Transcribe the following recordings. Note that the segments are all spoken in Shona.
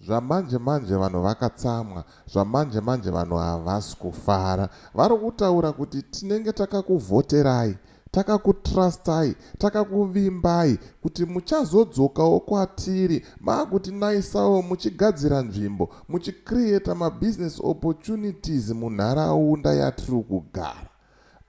zvamanje manje vanhu vakatsamwa zvamanje manje vanhu havasi kufara vari kutaura kuti tinenge takakuvhoterai takakutrustai takakuvimbai kuti muchazodzokawo kwatiri maakutinayisawo muchigadzira nzvimbo muchicreata mabusiness opportunities munharaunda yatiri kugara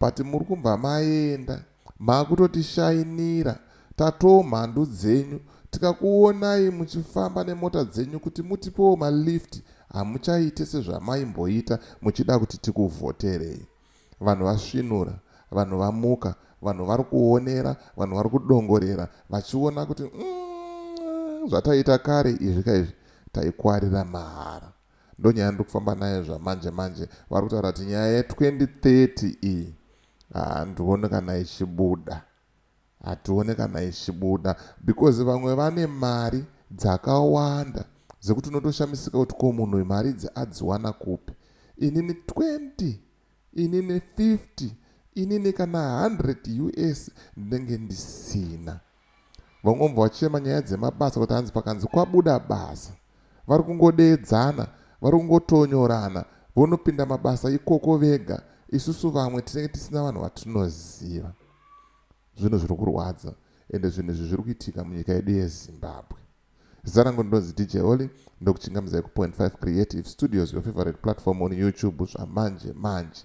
but muri kumbva maenda Makutotishainira tatoo mhandu dzenyu tikakuonai muchifamba nemota dzenyu kuti mutipewo malift hamuchaite sezvamaimboita muchida kuti tikuvhoterei. Vanhu vasvinura, vanhu vamuka, vanhu vari kuonera, vanhu vari kudongorera vachiona kuti umm zvataita kare izvi ka izvi taikwarira mahara. Ndonyaya ndiri kufamba nayo zvamanje manje vari kutaura kuti nyaya ye 2030 iyi Handione kana ichibuda. Hatione kana ichibuda because vamwe vane mari dzakawanda dzekuti unotoshamisika kuti ko munhu uyu mari idzi adziwana kupi. Inini 20, inini 50, inini kana 100 us ndinenge ndisina. vangomva vachema nyaya dzemabasa kuti hanzi pakanzi kwabuda basa vari kungodeedzana vari kungotonyorana vonopinda mabasa ikoko vega isusu vamwe tinenge tisina vanhu vatinoziva zvinhu zviri kurwadza ende zvinhu izvi zviri kuitika munyika yedu yezimbabwe zita rangu ndinonzi dj oli ndokuchingamizai ku point 5 creative studios your favorite platform on youtube zvamanje manje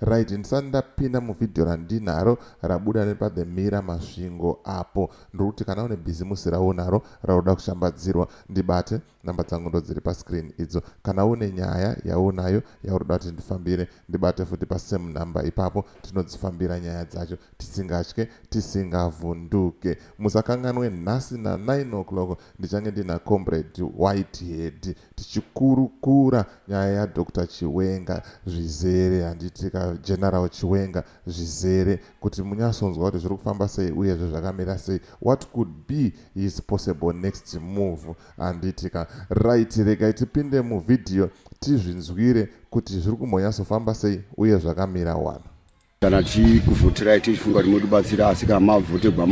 Right ndisati ndapinda muvideo randinaro rabuda nepa the mira masvingo apo ndiri kuti kana une bhizimusi raunaro raunoda kushambadzirwa ndibate namba dzangu ndo dziri pascreen idzo kana une nyaya yaunayo yaunoda kuti ndifambire ndibate futi pasame number ipapo tinodzifambira nyaya dzacho tisingatye tisingavhunduke musakanganwe nhasi na 9 o'clock ndichange ndina comrade whitehead tichikurukura nyaya yadr chiwenga zvizere handiti ka general chiwenga zvizere kuti munyasonzwa kuti zviri kufamba sei uyezve zvakamira sei what could be his possible next move handiti ka right regai tipinde muvhidhiyo tizvinzwire kuti zviri kumbonyatsofamba sei uye zvakamira wani kana tichikuvhoterai tichifunga kuti motibatsira asi kana mavhotegwa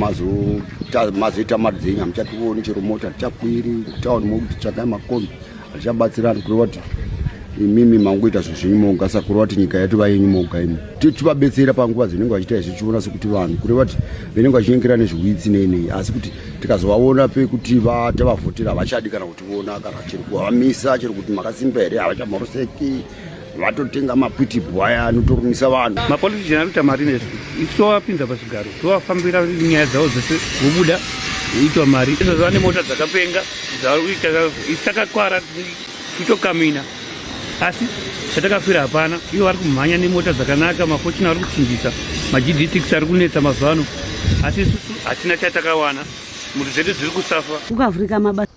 mazoita mari dzenyu hamuchationi chero mota hatichakwiri town mokuti tsvakai makombi hatichabatsirani kureva kuti imimi mangoita zvinhu zvenyu moga saka kureva kuti nyika yatova yenyu moga imi tivabetsera panguva dzinenge vachiita izvi tichiona sekuti vanhu kureva kuti venenge vachinyengera nezviwitsi neinei asi kuti tikazovaona pekuti vatavavhotera havachadi kana kutiona kana chero kuvamisa chero kuti makasimba here havachamhoroseki vatotenga mapitibu aya anotorumisa vanhu mapolitician anoita mari nesu isu tovapinza pazvigaro tovafambira nyaya dzavo dzese vobuda voitwa mari izvozvo vane mota dzakapenga dzavari kuita isu takakwara tichitokamina asi chatakafira hapana ivo vari kumhanya nemota dzakanaka mafochina vari kuchinjisa magd six ari kunetsa mazuva ano asi isusu hatina chatakawana mhuri dzedu dziri kusafa ukavhurika mabasa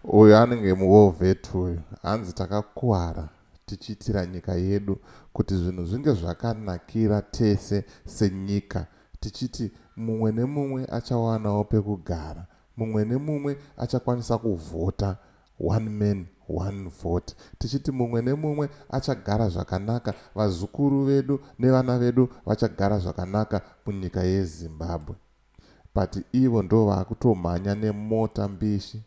uyu anenge muwovet uyu hanzi takakuwara tichiitira nyika yedu kuti zvinhu zvinge zvakanakira tese senyika tichiti mumwe nemumwe achawanawo pekugara, mumwe nemumwe achakwanisa kuvhota, one man, one vote, tichiti mumwe nemumwe achagara zvakanaka, vazukuru vedu nevana vedu vachagara zvakanaka munyika yeZimbabwe but ivo ndovaakutomhanya nemota mbishi.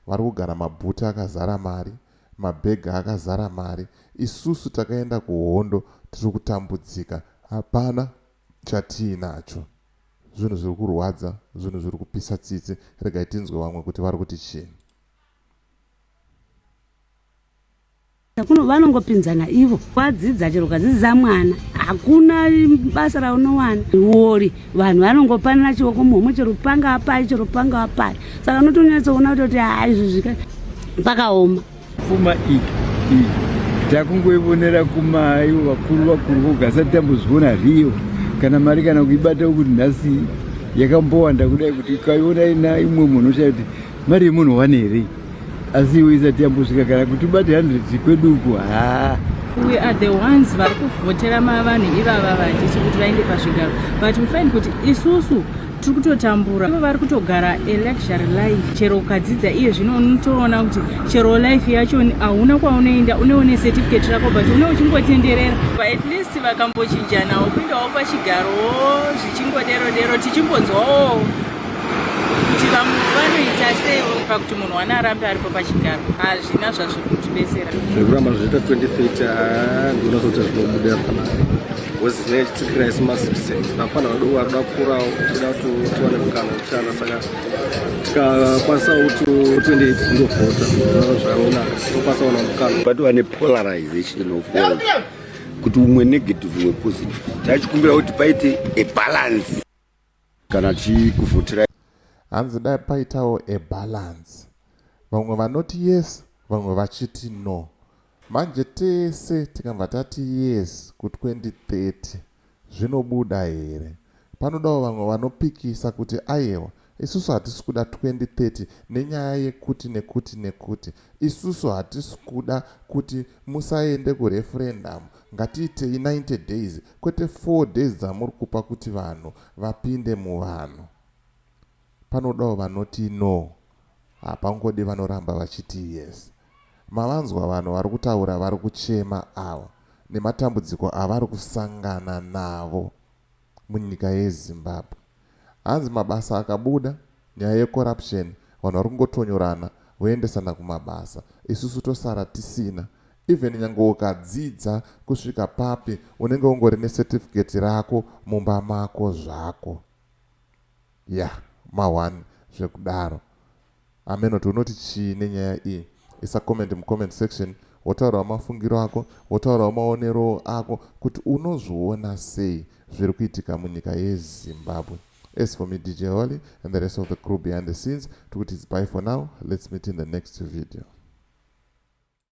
vari kugara mabhuti akazara mari, mabhegi akazara mari, isusu takaenda kuhondo tiri kutambudzika hapana chatiinacho. Zvinhu zviri kurwadza, zvinhu zviri kupisa tsitsi, regai tinzwe vamwe kuti vari kuti chii. kuno vanongopinzana ivo kwadzidza chero ukadzidza mwana hakuna basa raunowana wori vanhu vanongopanana chioko muhomwe chero panga apai chero panga apai saka unotonyatsoona kuti kuti haa izvi zvika pakaoma pfuma iyi iyi takungoivonera kumaivo vakuru vakuru voga asati tambozviona riyo kana mari kana kuibata kuti nhasi yakambowanda kudai kuti ukaiona ina imwe munhu uchakuti mari yemunhu wane here asi iwe isati yambosvika kana kuti ubate 100 kwedu uku haa we are the ones vari kuvhotera mavanhu ivava vajechi kuti vaende pazvigaro but we find kuti isusu tiri kutotambura ivo vari kutogara eluxury life chero ukadzidza iye zvino unotoona kuti chero life yacho hauna kwaunoenda uneone certificate rako but une uchingotenderera at least vakambochinjanawo kuindawo pachigaro zvichingodero dero tichimbonzwawo kuti vamwe vanoita sei oipa kuti munhu wana arambe aripo pachigaro hazvina zvazviri kutibetsera zvekuramba zviita 2030 handiona sokuti zvinobuda pana bcause ne chitsikira isi macitizens vafana vadoko vari kuda kukurawo tida kuti tiwane mukana wekushanda saka tikakwanisa kuti 28 ndovhota zvaona tokwanisa kuwana mukana but vane polarization of world kuti umwe negative wepositive tachikumbira kuti paite a balance kana tichikuvhotera hanzi dai paitawo a balance vamwe vanoti yes vamwe vachiti no manje tese tikabva tati yes ku2030 zvinobuda here panodawo vamwe vanopikisa kuti ayewa isusu hatisi kuda 2030 nenyaya yekuti nekuti nekuti Isusu hatisi kuda kuti musaende kureferendamu, ngatiitei 90 days kwete four days dzamuri kupa kuti vanhu vapinde muvanhu. Panodawo vanoti no, hapangodi vanoramba vachiti yes. Mavanzwa vanhu vari kutaura vari kuchema ava nematambudziko avari kusangana navo. munyika yeZimbabwe. Hanzi mabasa akabuda, nyaya yecorruption, vanhu vari kungotonyorana voendesana kumabasa, isusu tosara tisina. Even nyange ukadzidza kusvika papi, unenge ungori necertificate rako mumba mako zvako. Yah, ma one zvekudaro. Amen wati unoti chii nenyaya iyi isa comment mucomment section wotaurawo mafungiro ako wotaurawo maonero ako kuti unozviona sei zviri kuitika munyika yezimbabwe as for me dj holy and the rest of the crew behind the scenes tikuti its by for now let's meet in the next video